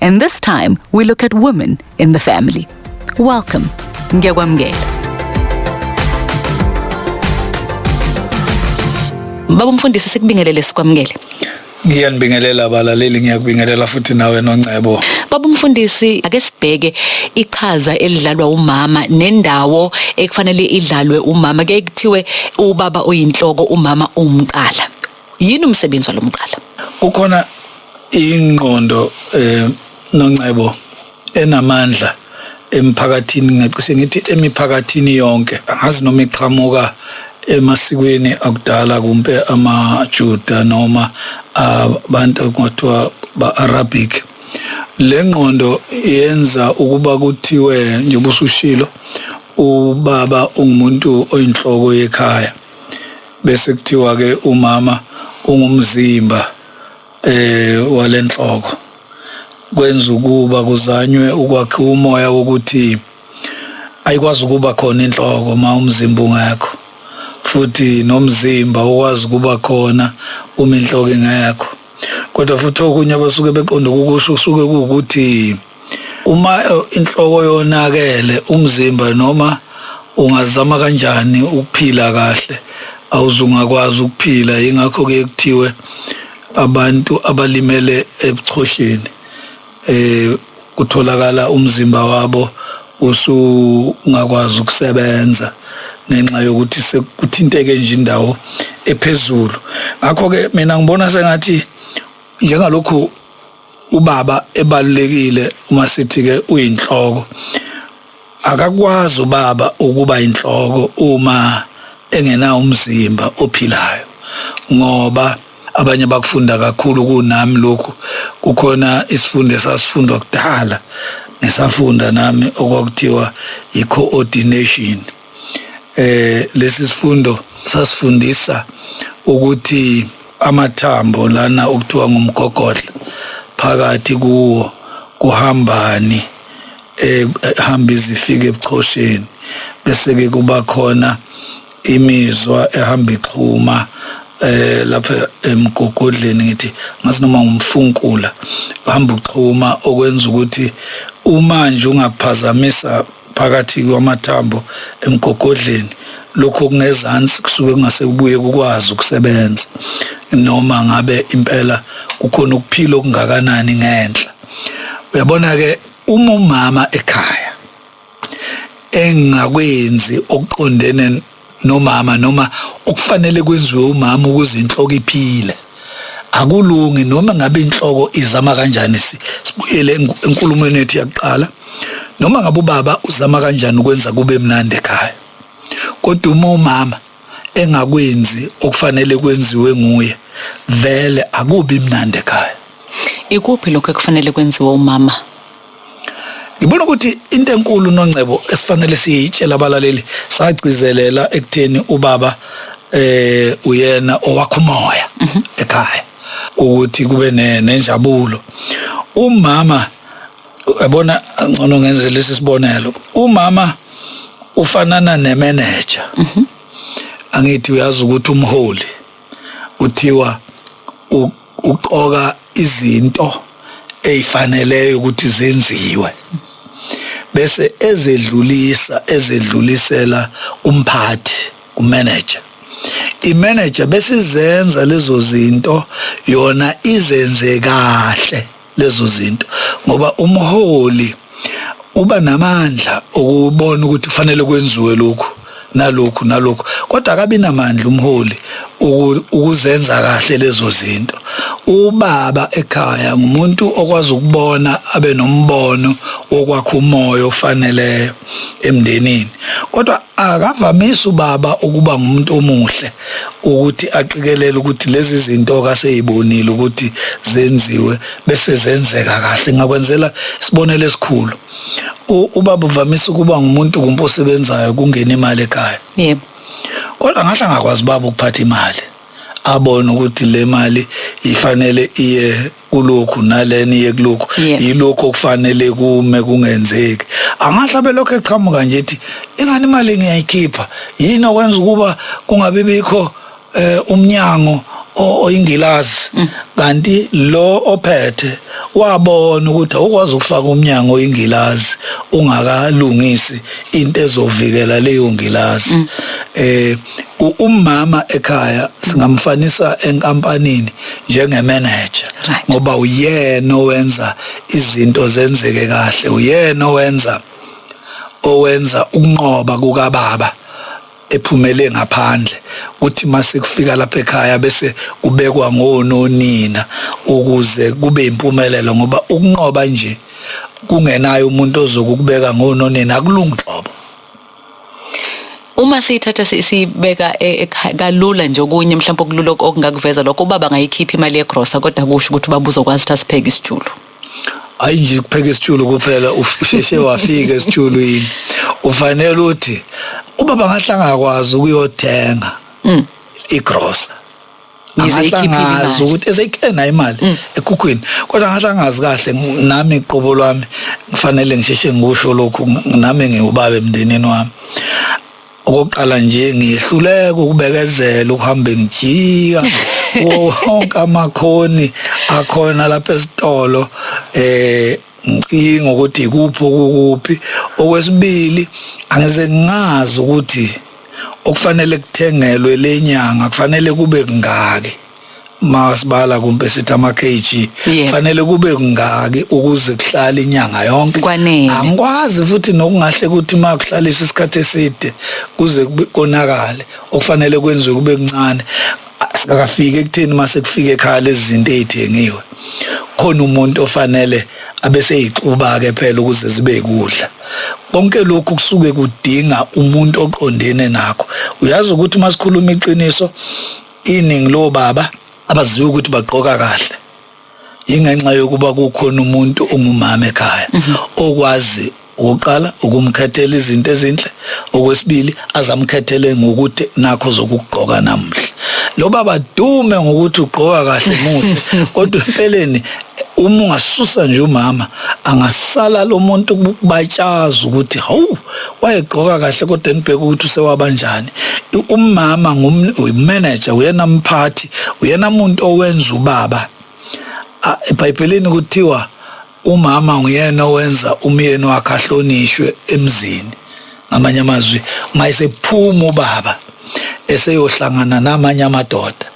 And this time we look at women in the family. Welcome. Ngiyakwamukela. Baba umfundisi sikubingelele sikwamukele. Ngiyanibingelela abalaleli ngiyakubingelela futhi nawe noNcebo. Baba umfundisi ake sibheke iqhaza elidlalwa umama nendawo ekufanele idlalwe umama ke kuthiwe ubaba oyinhloko umama umqala. Yini umsebenzi walo mqala? Kukhona ingqondo eh noncebo enamandla emphakathini ngingacishe ngithi emiphakathini yonke angazi noma iqhamuka emasikweni akudala kumbe amaJuda noma abantu kuthiwa ba-Arabic le ngqondo yenza ukuba kuthiwe njengoba usushilo ubaba ungumuntu oyinhloko yekhaya bese kuthiwa ke umama ungumzimba eh walenhloko kwenza ukuba kuzanywe ukwakhiwa umoya wokuthi ayikwazi ukuba khona inhloko uma umzimba ungekho futhi nomzimba ukwazi ukuba khona uma inhloko ingekho kodwa futhi okunye abasuke beqonde ukukusho kusuke kuwukuthi uma eh, inhloko yonakele umzimba noma ungazama kanjani ukuphila kahle awuzungakwazi ukuphila yingakho ke kuthiwe abantu abalimele ebuchosheni eh kutholakala umzimba wabo usungakwazi ukusebenza ngenxa yokuthi sekuthinteke nje indawo ephezulu ngakho ke mina ngibona sengathi njengalokhu ubaba ebalulekile uma sithi ke uyinhloko akakwazi ubaba ukuba inhloko uma engena umzimba ophilayo ngoba abanye bakufunda kakhulu kunami lokhu kukhona isifundo esasifundwa kudala ngisafunda nami okwakuthiwa i-coordination eh lesi sifundo sasifundisa ukuthi amathambo lana okuthiwa ngumgogodla phakathi kuwo kuhambani ehamba izifika ebuchosheni bese ke kuba khona imizwa ehamba ixhuma eh lapha emgogodleni ngithi ngathi noma ngumfunkula uhamba uxhuma okwenza ukuthi uma nje ungaphazamisa phakathi kwamathambo emgogodleni lokho kungezansi kusuke kungase kubuye kukwazi ukusebenza noma ngabe impela kukhona ukuphila okungakanani ngenhla uyabona ke uma umama ekhaya engingakwenzi okuqondene nomama noma okufanele kwenziwe umama ukuze inhloko iphile akulungi noma ngabe inhloko izama kanjani sibuyele enkulumweni yethu yakuqala noma ngabe ubaba uzama kanjani ukwenza kube mnandi ekhaya kodwa uma umama engakwenzi okufanele kwenziwe nguye vele akubi mnandi ekhaya ikuphi lokho ekufanele kwenziwe umama ngibona ukuthi into enkulu nongcebo esifanele siyitshela abalaleli sagcizelela ekutheni ubaba eh uyena owakho umoya mhm. ekhaya ukuthi kube nenjabulo umama yabona ngcono ngenze lesi sibonelo umama ufanana ne manager mhm. angithi uyazi ukuthi umholi kuthiwa uqoka izinto ezifaneleyo ukuthi zenziwe bese ezedlulisa ezedlulisela kumphathi kumanager imanager besizenza lezo zinto yona izenze kahle lezo zinto ngoba umholi uba namandla okubona ukuthi kufanele kwenziwe lokhu nalokhu nalokhu kodwa akabi namandla umholi ukuzenza kahle lezo zinto ubaba ekhaya ngumuntu okwazi ukubona abe nombono wokwakha umoya ofaneleyo emndenini kodwa Akavamisi ubaba ukuba ngumuntu omuhle ukuthi aqikelele ukuthi lezi zinto kaseyibonile ukuthi zenziwe bese zenzeka kahle ngakwenzela isibonelo esikhulu ubaba uvamisa ukuba ngumuntu kumposebenzayo kungena imali ekhaya yebo kodwa ngahle angakwazi baba ukuphatha imali abone ukuthi le mali ifanele iye kulokhu nalena iye kulokhu Yeah. yilokhu okufanele kume kungenzeki angahle abelokhu eqhamuka nje ethi ingani imali ngiyayikhipha yini okwenza ukuba kungabi bikho eh, umnyango o- oyingilazi Mm. kanti lo ophethe wabona ukuthi awukwazi ukufaka umnyango oyingilazi ungakalungisi into ezovikela leyo ngilazi Mm. eh umama ekhaya singamfanisa enkampanini njenge manager ngoba uyena owenza izinto zenzeke kahle uyena owenza owenza ukunqoba kukababa ephumele ngaphandle kuthi mase kufika lapha ekhaya bese kubekwa ngononina ukuze kube impumelelo ngoba ukunqoba nje kungenayo umuntu ozokubeka ngononina akulungi qobo Uma siyithatha siyibeka e, kalula nje okunye mhlawumbe okulula okungakuveza lokho ubaba angayikhipha imali yegrosa kodwa kusho ukuthi ubaba uzokwazi ukuthi asipheke isijulu hayi nje kupheka isitshulu kuphela usheshe wafika esitshulwini ufanele uthi ubaba ngahlangakwazi ukuyothenga mm. igrosa ngizeyikhiphile ukuthi eseyiklena imali mm. ekhukhwini kodwa ngahle angazi kahle nami qobo lwami kufanele ngisheshe ngikusho lokhu nami ngiwubaba emndenini wami okokuqala nje ngihluleka ukubekezela ukuhambe ngijika wonke amakhoni akhona lapha esitolo eh ngicinga ukuthi ikuphi okukuphi okwesibili angize ngazi ukuthi okufanele kuthengelwe le nyanga kufanele kube kungaki masibala kumbe sithi ama-kg Yebo. fanele kube kungaki ukuze kuhlale inyanga yonke Kwanele. angikwazi futhi nokungahle ukuthi uma kuhlaliswa isikhathi eside kuze kube- konakale okufanele kwenziwe kube kuncane Singakafiki ekutheni uma sekufika ekhaya lezi zinto ey'thengiwe khona umuntu ofanele abe seyixuba-ke phela ukuze zibe kudla konke lokhu kusuke kudinga umuntu oqondene nakho uyazi ukuthi uma sikhuluma iqiniso iningi lobaba abaziwa ukuthi bagqoka kahle yingenxa yokuba kukhona umuntu ongumama ekhaya mhm. okwazi ukuqala ukumkhethela izinto ezinhle okwesibili azamkhethele ngokuthi nakho zokugqoka namuhla lo baba dume ngokuthi ugqoka kahle muhle kodwa empeleni uma ungasusa nje umama angasala lo muntu kubatshaza ukuthi hawu wayegqoka kahle kodwa enibheka ukuthi usewabanjani umama ngumanager uyena mphathi uyena muntu owenza ubaba eBhayibhelini kuthiwa umama nguyena owenza umyeni wakhe ahlonishwe emzini ngamanye amazwi mayesephuma ubaba eseyohlangana namanye amadoda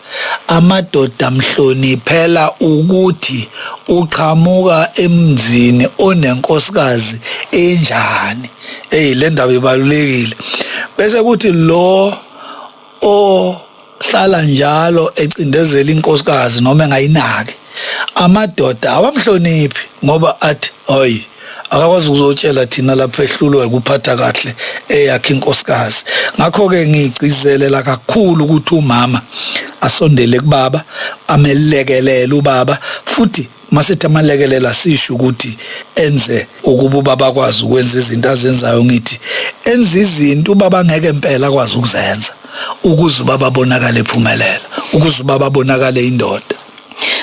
amadoda mhloniphela ukuthi uqhamuka emzini onenkosikazi enjani eyi le ndaba ibalulekile bese kuthi lo o hlala njalo ecindezela inkosikazi noma engayinaki amadoda awamhloniphi ngoba athi hoyi akakwazi ukuzotshela thina lapho ehlulwa ukuphatha kahle eyakhe inkosikazi ngakho-ke ngigcizelela kakhulu ukuthi umama asondele kubaba amelekelele ubaba futhi masithi amalekelela sisho ukuthi enze ukuba ubaba akwazi ukwenza izinto azenzayo ngithi enza izinto ubaba ngeke impela akwazi ukuzenza ukuze ubaba abonakale ephumelela ukuze ubaba abonakale indoda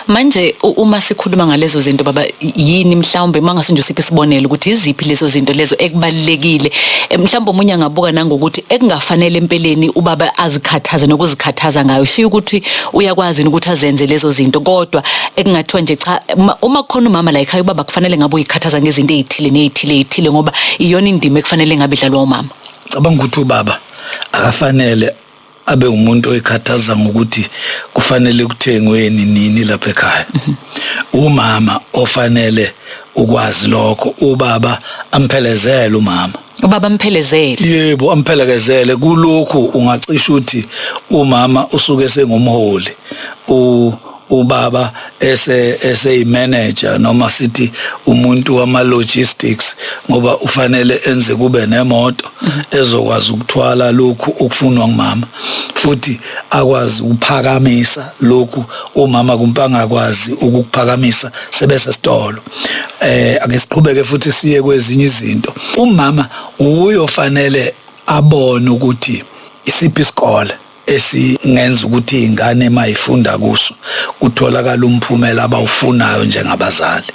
Manje uma sikhuluma ngalezo zinto baba yini mhlawumbe mangase nje usiphe isibonelo ukuthi iziphi lezo zinto lezo ekubalekile eh, mhlawumbe umunye angabuka nangokuthi ekungafanele empeleni ubaba azikhathaze nokuzikhathaza ngayo shiya ukuthi uyakwazi ukuthi azenze lezo zinto kodwa ekungathiwa nje cha uma khona umama la ekhaya ubaba kufanele ngabe uyikhathaza ngezinto ezithile nezithile ezithile ngoba iyona indima ekufanele ngabe idlalwa umama cabanga ukuthi ubaba akafanele abe umuntu oyikhathaza ngokuthi kufanele kuthengweni nini lapha ekhaya mhm. umama ofanele ukwazi lokho ubaba amphelezele umama ubaba amphelezele yebo amphelekezele kulokhu ungacisha ukuthi umama usuke sengumholi u ubaba ese eseyimanager noma sithi umuntu wama logistics ngoba ufanele enze kube nemoto mhm. ezokwazi ukuthwala lokhu okufunwa ngumama futhi akwazi ukuphakamisa lokhu umama kumpanga kwazi ukuphakamisa sebese sitolo eh ake siqhubeke futhi siye kwezinye izinto umama uyofanele abone ukuthi isiphi isikole esingenza ukuthi iy'ngane uma y'funda kuso kutholakale umphumela abawufunayo njengabazali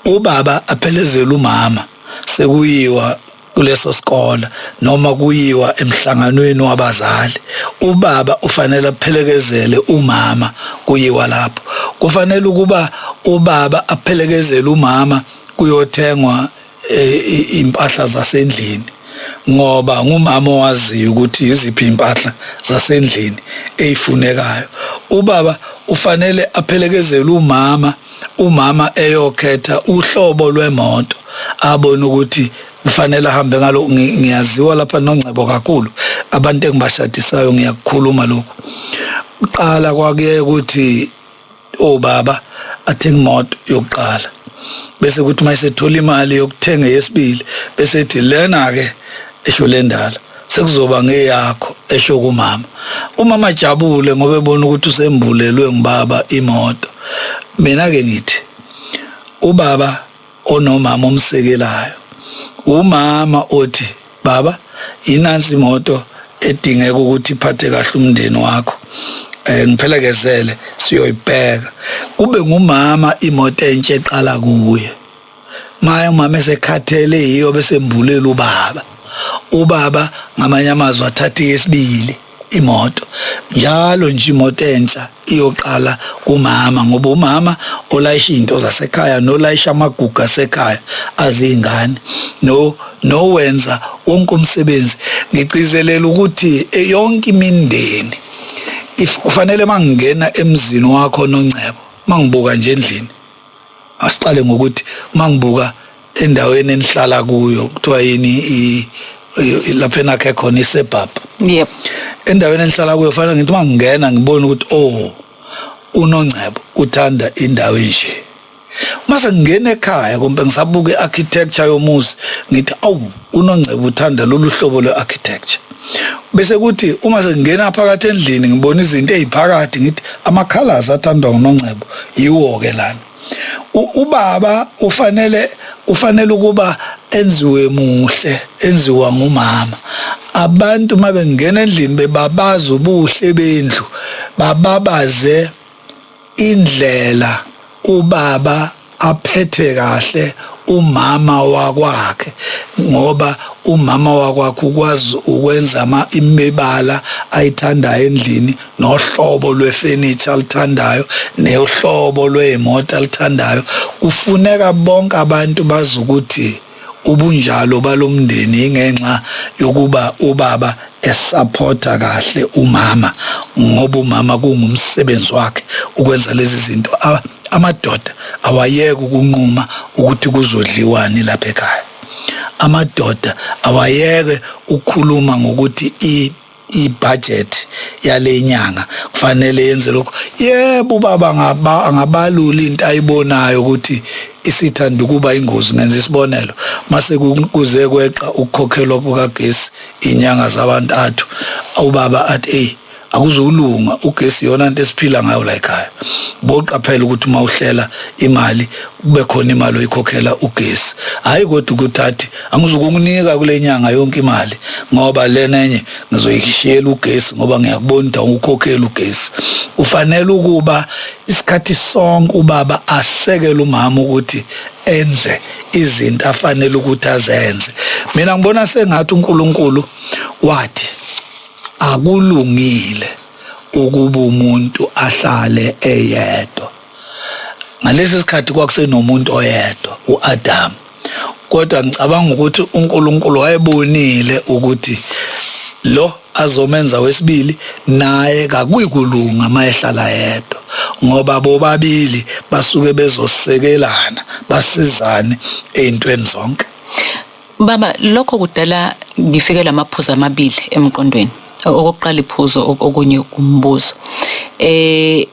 ubaba aphelezele umama sekuyiwa kuleso sikole noma kuyiwa emhlanganweni wabazali ubaba ufanele aphelekezele umama kuyiwa lapho kufanele ukuba ubaba aphelekezele umama kuyothengwa eh, impahla zasendlini ngoba ngumama owaziyo ukuthi yiziphi impahla zasendlini eyifunekayo ubaba ufanele aphelekezele umama umama eyokhetha uhlobo lwemoto abone ukuthi kufanele ahambe ngalo ngiyaziwa lapha nongcebo kakhulu abantu engibashadisayo ngiyakukhuluma lokhu uqala kwakuye ukuthi obaba athenga imoto yokuqala bese kuthi mayisethola imali yokuthenga yesibili bese ethi lena ke esho lendala sekuzoba ngeyakho esho kumama umama ajabule ngoba ebona ukuthi usembulelwe ngibaba imoto mina ke ngithi ubaba onomama omsekelayo umama othi Baba, yinansi imoto edingeka ukuthi iphathe kahle umndeni wakho. Eh ngiphelekezele siyoyibheka. Kube ngumama imoto entshe eqala kuye. Maya umama esekhathele yiyo bese mbulela ubaba. Ubaba ngamanye amazwi athathe yesibili. imoto njalo nje imoto entsha iyoqala kumama ngoba umama olayisha izinto zasekhaya nolayisha amagugu asekhaya azingane no nowenza wonke umsebenzi ngigcizelela ukuthi yonke imindeni if kufanele mangingena emzini wakho nongcebo mangibuka nje endlini Asiqale ngokuthi mangibuka endaweni enihlala kuyo kuthiwa yini lapho enakhe khona iSebab. Yep. Endaweni enihlala kuyo fanele ngithi mangingena ngibone ukuthi oh unongcebo uthanda indawo enje. Mase ngingena ekhaya kumbe ngisabuka iarchitecture yomuzi ngithi awu UNongcebo uthanda lolu hlobo lwe-architecture. Bese kuthi uma sengingena phakathi endlini ngibona izinto eziphakathi ngithi ama-colours athandwa nguNongcebo yiwo-ke lana. Ubaba ufanele ufanele ukuba enziwe muhle enziwa ngumama abantu mabengena endlini bebabaza ubuhle bendlu bababaze Indlela ubaba aphethe kahle umama wakwakhe ngoba umama wakwakhe ukwazi ukwenza ama imibala ayithandayo endlini nohlobo lwefurniture alithandayo nohlobo lwezimoto alithandayo kufuneka bonke abantu bazi ukuthi ubunjalo balomndeni ingenxa yokuba ubaba esaphotha kahle umama ngoba umama kungumsebenzi wakhe ukwenza lezi zinto amadoda awayeke ukunquma ukuthi kuzodliwani lapha ekhaya amadoda awayeke ukukhuluma ngokuthi ibhajethi yale nyanga kufanele yenze lokho yebo ubaba angabalula into ayibonayo ukuthi isithanda ukuba ingozi ngenza isibonelo mase kuze kweqa ukukhokhelwa kukagesi inyanga zabantathu ubaba athi eyi akuzulunga ugesi yona into esiphila ngayo la ekhaya boqaphela ukuthi uma uhlela imali kube khona imali oyikhokhela ugesi hayi kodwa ukuthi athi angizukunginika kule nyanga yonke imali ngoba lena enye ngizoyishiyela ugesi ngoba ngiyakubona ukuthi awukhokheli ugesi ufanele ukuba isikhathi sonke ubaba asekele umama ukuthi enze izinto afanele ukuthi azenze mina ngibona sengathi uNkulunkulu wathi akulungile ukuba umuntu ahlale eyedwa ngalesi sikhathi kwakusenomuntu oyedwa uAdam kodwa ngicabanga ukuthi uNkulunkulu wayebonile ukuthi lo azomenza wesibili naye kakuyikulunga mayehlala yedwa ngoba bobabili basuke bezosekelana basizane ezintweni zonke baba lokho kudala ngifike lamaphuzu amabili emqondweni okokuqala iphuzo okunye umbuzo eh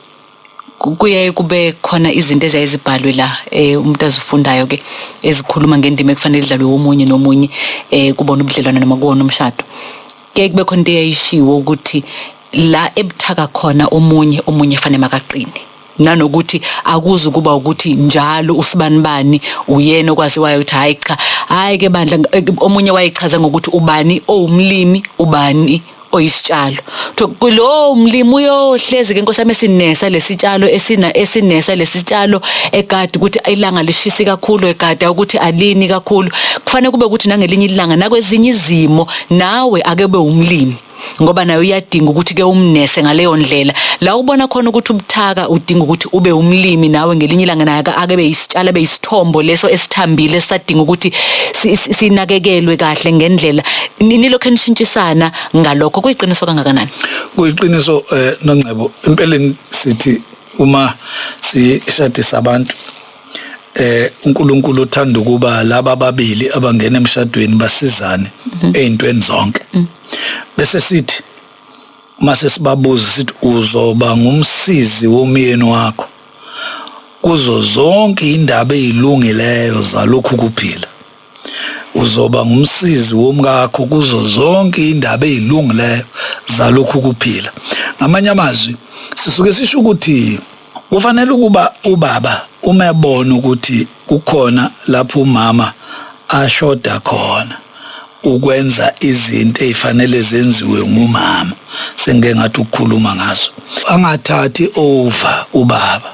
kuyaye kube khona izinto eziyaye zibhalwe la eh umuntu azifundayo ke ezikhuluma ngendima ekufanele idlalwe omunye nomunye eh kubona ubudlelwane noma kuwona umshado ke kube khona into eyayishiwo ukuthi la ebuthaka khona omunye omunye fanele makaqine nanokuthi akuzi kuba ukuthi njalo usibani bani uyena okwaziwayo ukuthi hayi cha hayi ke bandla omunye wayechaza ngokuthi ubani owumlimi ubani oyisitshalo kuthiwa lowo mlimi uyohlezi-ke nkosi yami esinesa lesitshalo esina esinesa lesitshalo egadi ukuthi ilanga lishisi kakhulu egada ukuthi alini kakhulu kufanele kube ukuthi nangelinye ilanga nakwezinye izimo nawe ake be umlimi ngoba nayo uyadinga ukuthi ke umnese ngaleyo ndlela la ubona khona ukuthi ubuthaka udinga ukuthi ube umlimi nawe ngelinye ilanga naye ake beyisitshala beyisithombo leso esithambile esadinga ukuthi sinakekelwe kahle ngendlela nilokho enishintshisana ngalokho kuyiqiniso kangakanani kuyiqiniso eh nongcebo empeleni sithi uma sishadisa abantu eh uNkulunkulu uthanda ukuba laba babili abangena emshadweni basizane mhm. ezintweni zonke mm. bese sithi mase sibabuza sithi uzoba ngumsizi womyeni wakho kuzo zonke indaba ezilungileyo zalokhu kuphila Uzoba ngumsizi womkakho kuzo zonke indaba ezilungileyo zalokhu kuphila. Ngamanye amazwi, sisuke sisho ukuthi kufanele ukuba ubaba uma ebona ukuthi kukhona lapho umama ashoda khona ukwenza izinto ezifanele zenziwe ngumama sengike ngathi ukukhuluma ngaso angathathi over ubaba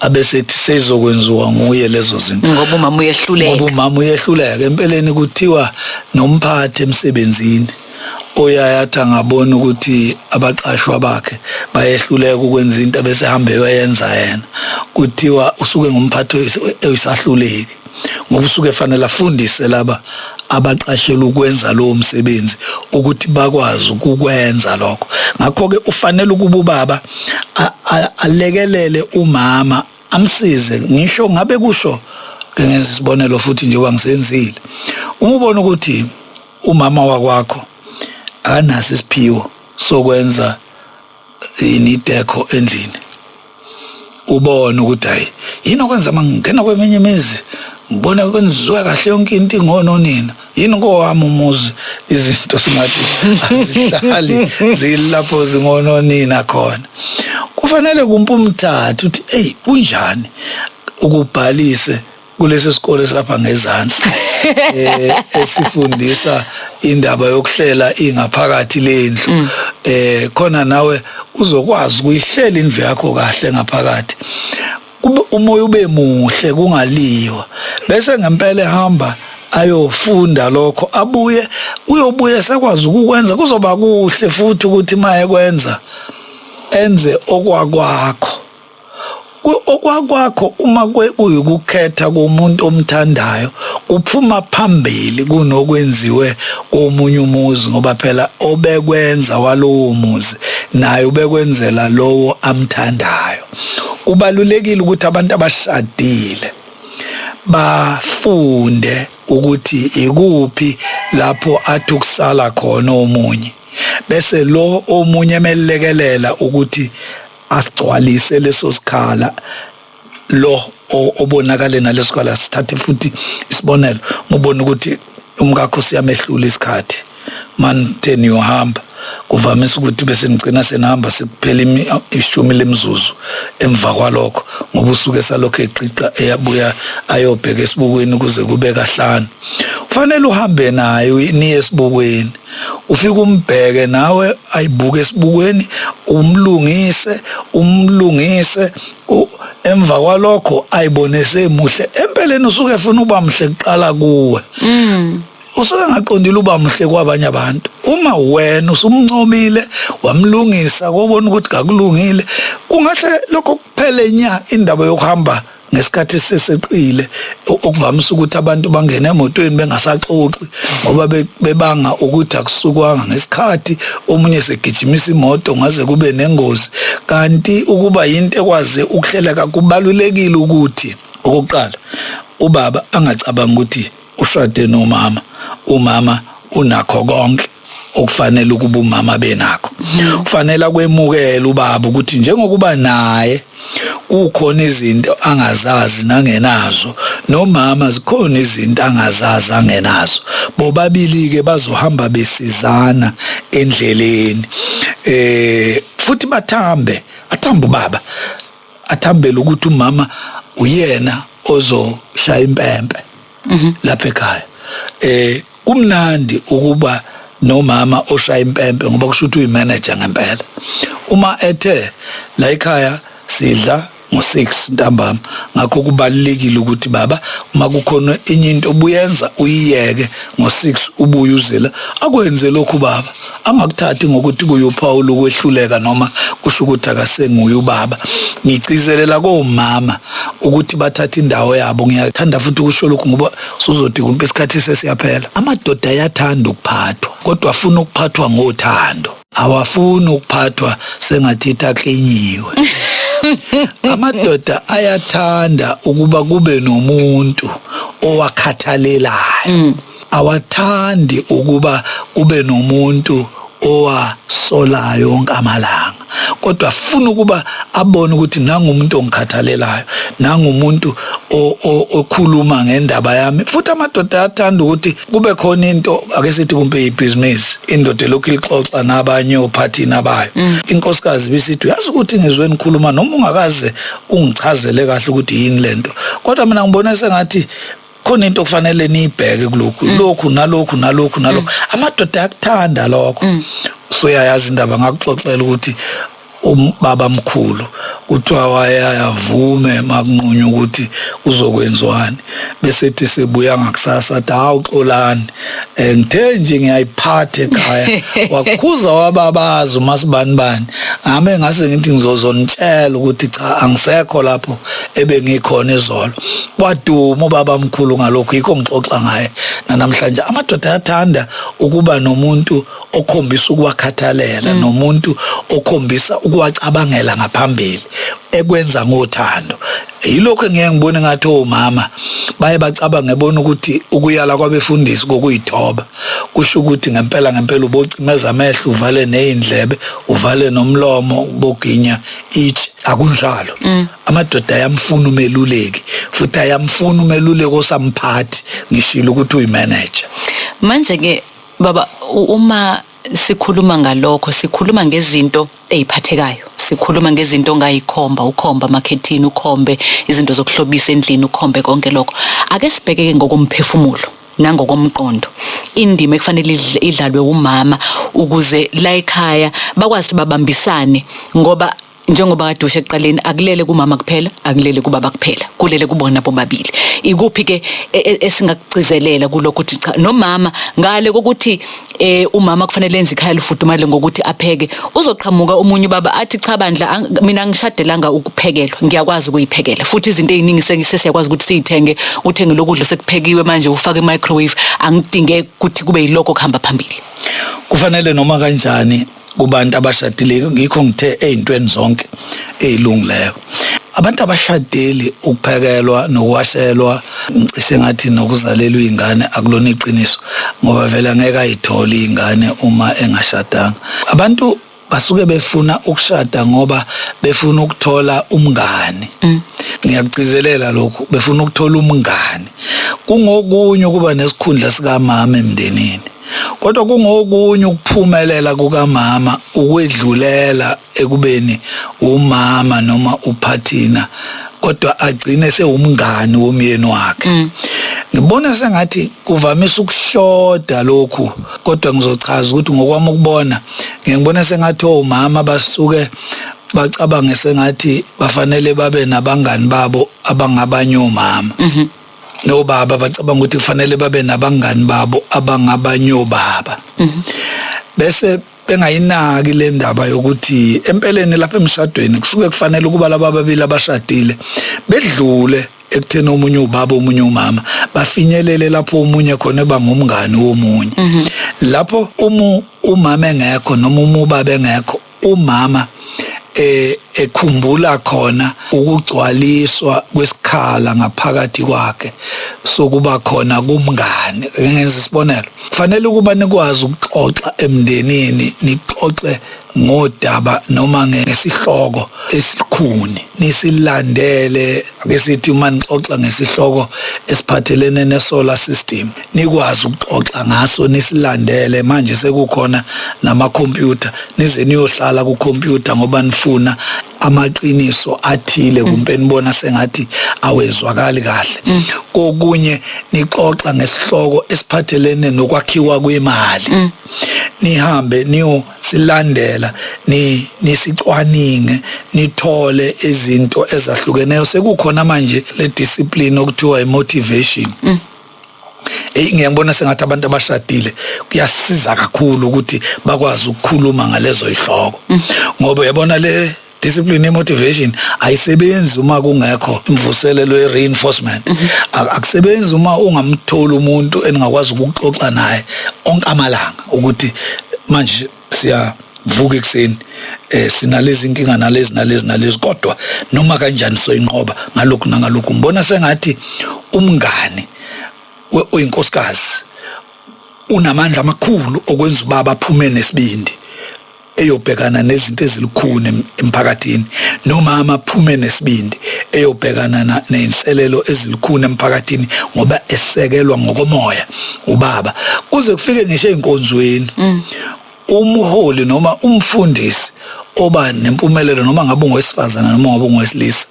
abesethi seyizokwenziwa nguye lezo zinto ngoba umama uyehluleka ngoba umama uyehluleka empeleni kuthiwa nomphathi emsebenzini oyayathi angabona ukuthi abaqashwa bakhe bayehluleka ukwenza into abesehamba eyoyenza yena kuthiwa usuke ngumphathi oyisahluleki ngoba usuke fanele afundise laba abaqashelwa ukwenza lowo msebenzi ukuthi bakwazi ukukwenza lokho ngakho ke ufanele ukuba ubaba alekelele umama amsize ngisho ngabe kusho ngenza isibonelo futhi njengoba ngisenzile uma ubona ukuthi umama wakwakho akanaso isiphiwo sokwenza yini idekho endlini ubone ukuthi hayi yini okwenza uma ngingena kweminye imizi ngibona kwenziwa kahle yonke into ingono nina yini kowami umuzi izinto singathi azihlali zilapho zingono nina khona kufanele kumpe umthathu ukuthi hey kunjani ukubhalise kulesi sikole sapha ngezansi eh esifundisa indaba yokuhlela ingaphakathi lendlu mm. eh khona nawe uzokwazi ukuyihlela indlu yakho kahle ngaphakathi umoya ube muhle kungaliwa bese ngempela ehamba ayofunda lokho abuye uyobuye sekwazi ukukwenza kuzoba kuhle futhi ukuthi maye kwenza enze okwakwakho okwakwakho uma kuyikukhetha komuntu omthandayo kuphuma phambili kunokwenziwe komunye umuzi ngoba phela obekwenza walowo muzi naye ubekwenzela lowo amthandayo kubalulekile ukuthi abantu abashadile bafunde ukuthi ikuphi lapho athi ukusala khona omunye bese lo omunye emelekelela ukuthi asigcwalise leso sikhala lo obonakale nalesikhala sithathe futhi isibonelo ngibona ukuthi umkakho siyamehlula isikhathi manje niyohamba kuvamise ukuthi bese ngicina senihamba sekuphela ishumi lemizuzu emva kwalokho ngoba usuke salokho eqiqa eyabuya ayobheka esibukweni kuze kube kahlanu kufanele uhambe nayo niye esibukweni ufike umbheke nawe ayibuke esibukweni umlungise umlungise emva kwalokho ayibone semuhle empeleni usuke efuna uba mhle kuqala kuwe mm. usuke ngaqondile uba muhle kwabanye abantu uma wena usumncomile wamlungisa kobona ukuthi kakulungile kungahle lokho kuphele nya indaba yokuhamba ngesikhathi seseqile okuvamisa ukuthi abantu bangene emotweni bengasaxoxi ngoba bebanga ukuthi akusukwanga ngesikhathi omunye segijimisa imoto ngaze kube nengozi kanti ukuba yinto ekwaze ukuhleleka kubalulekile ukuthi okokuqala ubaba angacabangi ukuthi ushade nomama umama unakho konke okufanele ukuba umama benakho kufanele akwemukele ubaba ukuthi njengokuba naye kukhona izinto angazazi nangenazo nomama zikhona izinto angazazi angenazo bobabili ke bazohamba besizana endleleni eh futhi bathambe athamba ubaba athambele ukuthi umama uyena ozoshaya impempe mhm. lapha ekhaya eh kumnandi ukuba nomama oshaya impempe ngoba kusho ukuthi uyimanager ngempela uma ethe la ekhaya sidla ngo6 ntambama ngakho kubalekile ukuthi baba uma kukhona enye into obuyenza uyiyeke ngo6 ubuye uzela akwenze lokhu baba angakuthathi ngokuthi kuyuphawu lokwehluleka noma kusho ukuthi akasenguye ubaba ngigcizelela komama ukuthi bathathe indawo yabo ngiyathanda futhi ukusho lokhu ngoba suzothi kumpe isikhathi sesiyaphela amadoda ayathanda ukuphathwa kodwa afuna ukuphathwa ngothando awafuni ukuphathwa sengathi itaklinyiwe amadoda ayathanda ukuba kube nomuntu owakhathalelayo mm. awathandi ukuba kube nomuntu owasolayo onke amalanga kodwa funa ukuba abone ukuthi nangumuntu ongikhathalelayo nangumuntu okhuluma ngendaba yami futhi amadoda ayathanda ukuthi kube khona into ake sithi kumbe ibhizinisi indoda elokhu ilixoxa nabanye ophathini abayo mm. inkosikazi bisithi uyazi ukuthi ngizwe nikhuluma noma ungakaze ungichazele kahle ukuthi yini lento kodwa mina ngibona sengathi khona into okufanele niyibheke kulokhu mm. lokhu nalokhu nalokhu nalokhu mm. amadoda ayakuthanda lokho mm. soyayazi indaba ngakuxoxela ukuthi ubaba mkhulu kuthiwa wayavume makunqunywa ukuthi uzokwenziwani bese ethi sebuya ngakusasa athi hawu xolani Eh, ngithe nje ngiyayiphatha ekhaya wakhuza wababaza umasibanibani ngame ngase ngithi ngizozonitshela ukuthi cha angisekho lapho ebengikhona izolo waduma ubaba mkhulu ngalokho yikho ngixoxa ngaye nanamhlanje amadoda ayathanda ukuba nomuntu okhombisa ukuwakhathalela mm. nomuntu okhombisa ukuwacabangela ngaphambili ekwenza ngothando yilokho engeke ngibone ngathi omama baye bacabange bona ukuthi ukuyala kwabefundisi kokuyithoba kusho ukuthi ngempela ngempela ubocimeza amehlo uvale nezindlebe uvale nomlomo boginya ithi akunjalo mm. amadoda ayamfuna umeluleki futhi ayamfuna umeluleki osamphathi ngishilo ukuthi uyimanager manje ke baba uma sikhuluma ngalokho sikhuluma ngezinto eziphathekayo sikhuluma ngezinto ongayikhomba ukhomba amakhethini ukhombe izinto zokuhlobisa endlini ukhombe konke lokho ake sibhekeke ngokomphefumulo nangokomqondo indima ekufanele idlalwe umama ukuze la ekhaya bakwazi babambisane ngoba njengoba kade usho ekuqaleni akulele kumama kuphela akulele kubaba kuphela kulele kubona bobabili ikuphi ke e, e, esingakugcizelela kulokho ukuthi cha nomama ngale kokuthi eh umama kufanele enze ikhaya lifudumale ngokuthi apheke uzoqhamuka omunye baba athi cha bandla mina ngishadelanga ukuphekelwa ngiyakwazi ukuyiphekela futhi izinto eziningi sesiyakwazi ukuthi siyithenge uthenge lokudla sekuphekiwe manje ufake microwave angidinge ukuthi kube yiloko kuhamba phambili kufanele noma kanjani kubantu abashadile ngikho ngithe ezintweni zonke ezilungileyo abantu abashadeli ukuphekelwa nokwashelwa ngicishe ngathi nokuzalelwa izingane akulona iqiniso ngoba vele angeke ayithole izingane uma engashadanga abantu basuke befuna ukushada ngoba befuna ukuthola umngani mm. ngiyakugcizelela lokhu befuna ukuthola umngani kungokunye ukuba nesikhundla sikamama emndenini kodwa kungokunye ukuphumelela kukamama ukwedlulela ekubeni umama noma uphathina kodwa agcine sewumngani womyeni wakhe mm. ngibona sengathi kuvamise ukushoda lokhu kodwa ngizochaza ukuthi ngokwami ukubona ngibona sengathi omama oh, basuke bacabange sengathi bafanele babe nabangani babo abangabanye omama mm -hmm. nobaba bacabanga ukuthi kufanele babe nabangani babo abangabanyobaba mhm. bese bengayinaki le ndaba yokuthi empeleni lapha emshadweni kusuke kufanele ukuba laba babili abashadile bedlule ekutheni omunye ubaba omunye umama bafinyelele lapho omunye khona eba ngumngani womunye mhm. lapho uma umama engekho noma uma ubaba engekho umama eh ekhumbula khona ukugcwaliswa kwesikhala ngaphakathi kwakhe sokuba khona kumngane ngenza isibonelo kufanele ukuba nikwazi ukuxoxa emndenini nixoxe ngodaba noma ngesihloko esikhuni nisilandele ake sithi uma nixoxa ngesihloko esiphathelene nesolar system nikwazi ukuxoxa ngaso nisilandele manje sekukhona nama computer nize niyohlala ku computer ngoba nifuna amaqiniso athile mm. kumbe nibona sengathi awezwakali kahle mm. kokunye nixoxa ngesihloko esiphathelene nokwakhiwa kwemali mm. nihambe niyo silandela ni nisicwaninge nithole izinto ezahlukeneyo sekukhona manje le discipline okuthiwa i motivation eyi ngiyangibona sengathi abantu abashadile kuyasiza kakhulu ukuthi bakwazi ukukhuluma ngalezo ihloko mm. ngoba uyabona le discipline motivation ayisebenzi uma kungekho imvuselelo ye reinforcement mhm. akusebenzi uma ungamtholi umuntu eningakwazi ukuxoxa naye onke amalanga ukuthi manje siyavuka ekuseni eh sinalezi inkinga nalezi nalezi nalezi kodwa noma kanjani soyinqoba ngalokhu nangalokhu ngibona sengathi umngani oyinkosikazi unamandla amakhulu okwenza ubaba aphume nesibindi eyobhekana nezinto ezilukhuni emphakathini nomama aphume nesibindi eyobhekana nezinselelo ezilukhuni emphakathini ngoba esekelwa ngokomoya ubaba kuze kufike ngisho ezinkonzweni mm. umholi noma umfundisi oba nempumelelo noma ngabe ungowesifazane noma ngabe ungowesilisa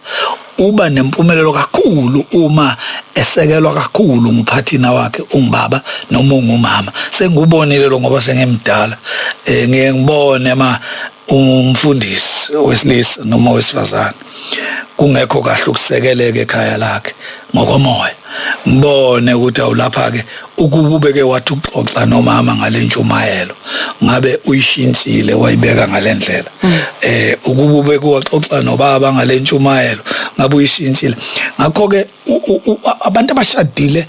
uba nempumelelo kakhulu uma esekelwa kakhulu nguphathina wakhe ungubaba noma ungumama sengikubonile lo ngoba sengimdala eh ngiye ngibone ma umfundisi wesilisa noma wesifazane kungekho kahle ukusekeleka ekhaya lakhe ngokomoya ngibone ukuthi awulapha-ke ukuba ubeke wathi uxoxa nomama ngale ntshumayelo ngabe uyishintshile wayibeka ngale ndlela um mm. eh, ukuba ubeke waxoxa nobaba ngale ntshumayelo ngabe uyishintshile ngakho-ke abantu abashadile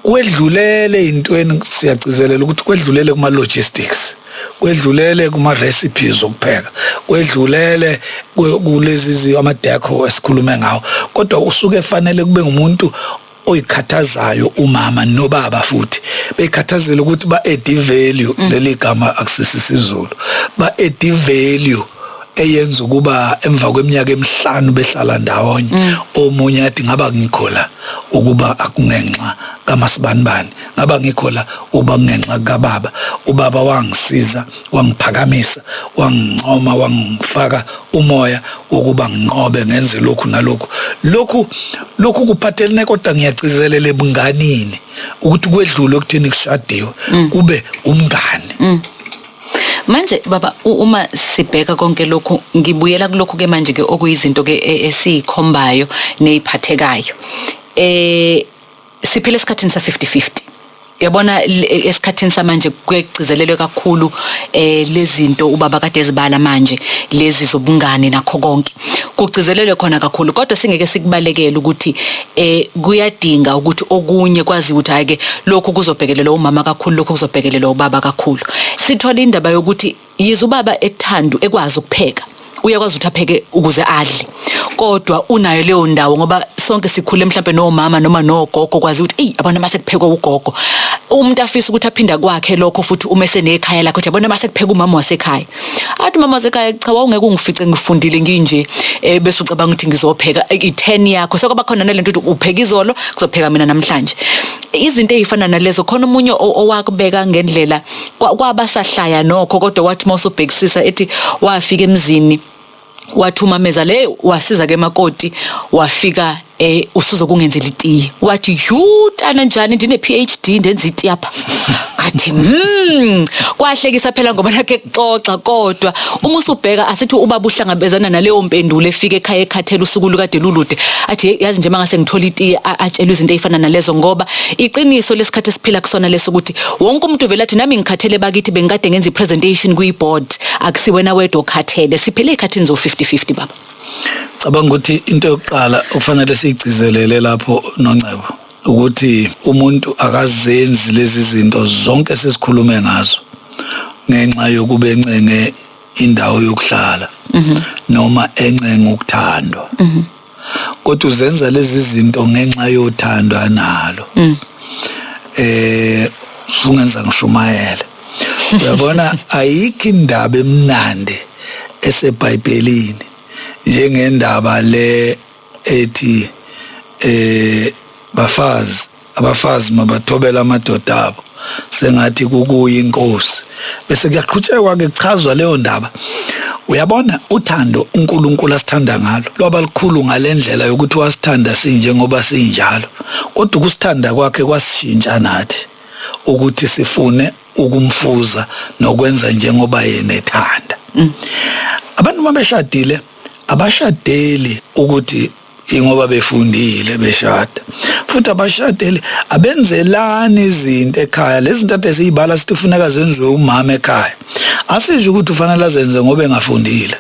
kwedlulele intweni siyagcizelela ukuthi kwedlulele kuma logistics kwedlulele kuma recipes okupheka kwedlulele kulezi ama deco esikhulume ngawo kodwa usuke efanele kube ngumuntu oyikhathazayo umama nobaba futhi bekhathazela ukuthi ba add value mm. leli gama akusisi sizulu ba add value eyenza ukuba emva kweminyaka emihlanu behlala ndawonye mm. omunye athi ngaba ngikhola ukuba akungenxa kamasibanibani ngaba ngikhola uba kungenxa kababa ubaba wangisiza wangiphakamisa wangincoma wangifaka umoya wokuba nginqobe ngenze lokhu nalokhu lokhu lokhu kuphathelene kodwa ngiyagcizelela ebunganini ukuthi kwedlule okutheni kushadiwe mm. kube umngani mm. manje baba uma sibheka konke lokhu ngibuyela kulokhu ke manje ke okuyizinto ke e, esiyikhombayo neziphathekayo eh siphele esikhathini sa 50-50 yabona e, esikhathini samanje kuyegcizelelwe kakhulu eh lezinto ubaba kade ezibala manje lezi zobungane nakho konke kugcizelelwe khona kakhulu kodwa singeke sikubalekele ukuthi eh kuyadinga ukuthi okunye kwazi ukuthi hayi ke lokhu kuzobhekelelwa umama kakhulu lokhu kuzobhekelelwa ubaba kakhulu sithola indaba yokuthi yize ubaba ethandu ekwazi ukupheka uyakwazi ukuthi apheke ukuze adle kodwa unayo leyo ndawo ngoba sonke sikhule mhlawumbe nomama noma nogogo kwazi ukuthi eyi abona mase kuphekwa ugogo umuntu afisa ukuthi aphinda kwakhe lokho futhi uma esenekhaya lakhe ukuthi yabona mase kupheka umama wasekhaya athi mama sekhaya cha wawungeke ungifice ngifundile nginje eh, bese ucabanga ukuthi ngizopheka eh, i-10 yakho sekuba khona nalento ukuthi upheka izolo kuzopheka mina namhlanje izinto ezifana nalezo khona omunye o- owakubeka ngendlela kwa- kwabasahlaya nokho kodwa wathi mawusubhekisisa ethi wafika emzini wathumameza le wasiza ke makoti wafika eh usuzokungenzela itiye wathi yutana njani ndine PhD ndenza itiye apha ngathi mm kwahlekisa phela ngoba nakhe kuxoxa kodwa uma usubheka asithi uba buhlangabezana naleyo mpendulo efika ekhaya ekhathela usuku lukade lulude athi yazi nje mangase ngithola itiye atshelwe izinto ezifana nalezo ngoba iqiniso lesikhathi esiphila kusona leso ukuthi wonke umuntu vele athi nami ngikhathele bakithi bengikade ngenza i-presentation kwi-board akusiwena wedwa okhathele siphele ey'khathini zo-50-50 baba cabanga ukuthi into yokuqala okufanele siyigcizelele lapho nongcebo ukuthi umuntu akazenzi lezi zinto zonke sesikhulume ngazo ngenxa yokuba encenge indawo yokuhlala mhm. noma encenge ukuthandwa mhm. kodwa uzenza lezi zinto ngenxa yothando analo mm. eh sungenza ngishumayele uyabona ayikho indaba emnandi esebhayibhelini njengendaba le ethi eh bafazi Abafazi mabathobele amadoda abo sengathi kukuye inkosi bese kuyaqhutshekwa ke kuchazwa leyo ndaba uyabona uthando uNkulunkulu asithanda ngalo lwaba likhulu ngalendlela yokuthi wasithanda sinjengoba sinjalo kodwa ukusithanda kwakhe kwasishintsha nathi ukuthi sifune ukumfuza nokwenza njengoba yena ethanda mm. abantu mabeshadile abashadeli ukuthi ingoba befundile beshada futhi abashadeli abenzelani izinto ekhaya lezi zinto ade siyibala sithi kufuneka zenziwe umama ekhaya asisho ukuthi ufanele azenze ngoba engafundile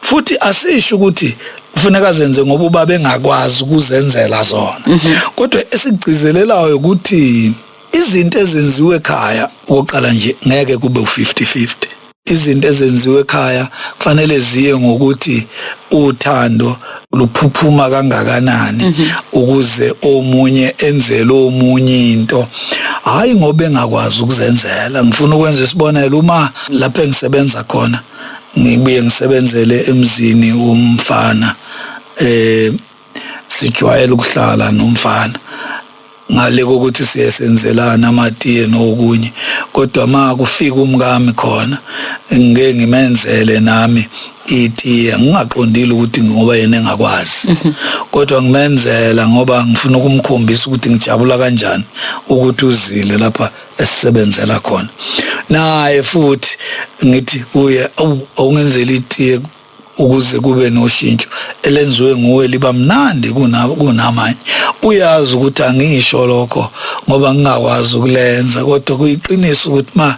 futhi asisho ukuthi kufuneka zenze ngoba uba bengakwazi ukuzenzela zona mhm. kodwa esigcizelelayo ukuthi izinto ezenziwe ekhaya okoqala nje ngeke kube u50 50 izinto ezenziwa ekhaya kufanele ziye ngokuthi uthando luphuphuma kangakanani mhm. ukuze omunye enzele omunye into hayi ngoba engakwazi ukuzenzela ngifuna ukwenza isibonelo uma lapho engisebenza khona ngibuye ngisebenzele emzini womfana eh sijwayele ukuhlala nomfana ngale kokuthi siye senzelana amatiye nokunye kodwa ma kufika umkami khona ngeke ngimenzele nami itiye ngingaqondile ukuthi ngoba yena engakwazi mhm. kodwa ngimenzela ngoba ngifuna ukumkhombisa ukuthi ngijabula kanjani ukuthi uzile lapha esisebenzela khona naye futhi ngithi kuye awungenzeli itiye ukuze kube noshintsho elenziwe nguwe liba mnandi kunamanye uyazi ukuthi angisho lokho ngoba ngingakwazi ukulenza kodwa kuyiqiniso ukuthi ma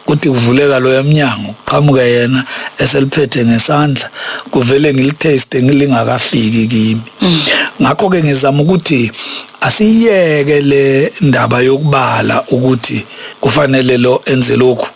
kuthi kuvuleka loya mnyango kuqhamuke yena eseliphethe ngesandla kuvele ngilitaste ngilingakafiki kimi mm. ngakho ke ngizama ukuthi asiyeke le ndaba yokubala ukuthi kufanele lo enze lokhu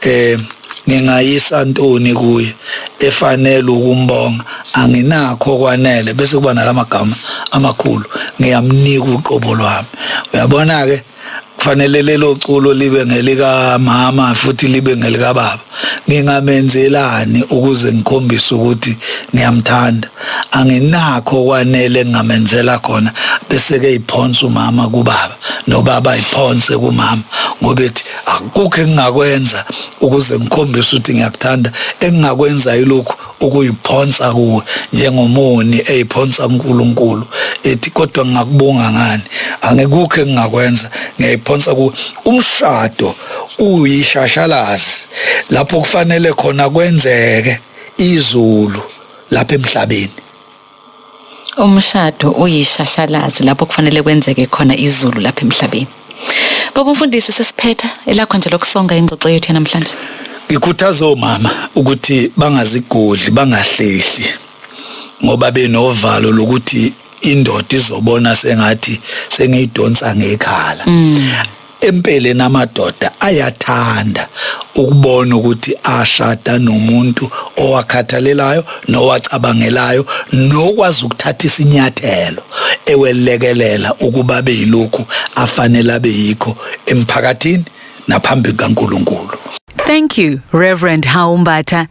eh ngingayisa ntoni kuye efanele ukumbonga anginakho kwanele bese kuba nalamagama amakhulu ngiyamnika uqobo lwami uyabona ke kufanele lelo culo libe ngelika mama futhi libe ngelika baba ngingamenzelani ukuze ngikhombise ukuthi ngiyamthanda anginakho kwanele ngingamenzela khona bese ke iphonsa umama kubaba nobaba iphonse kumama ngobethi akukho engingakwenza ukuze ngikhombise ukuthi ngiyakuthanda engingakwenza yilokhu ukuyiphonsa kuwe njengomoni eyiphonsa uNkulunkulu ethi kodwa ngingakubonga ngani angikukho engingakwenza ngiyayiphonsa kuwe umshado uyishashalazi lapho kufanele khona kwenzeke izulu lapha emhlabeni Umshado uyishashalazi lapho kufanele kwenzeke khona izulu lapha emhlabeni. Baba umfundisi sesiphetha elakho nje lokusonga ingxoxo yethu namhlanje. Ngikhuthaza omama ukuthi bangazigodli bangahlehli ngoba benovalo lokuthi indoda izobona sengathi sengiyidonsa ngekhala. Mm. Empeleni amadoda ayathanda ukubona ukuthi ashada nomuntu owakhathalelayo nowacabangelayo nokwazi ukuthatha isinyathelo ewelekelela ukuba abe yilokhu afanele abe yikho emphakathini naphambi kukaNkulunkulu. Thank you Reverend Haumbatha.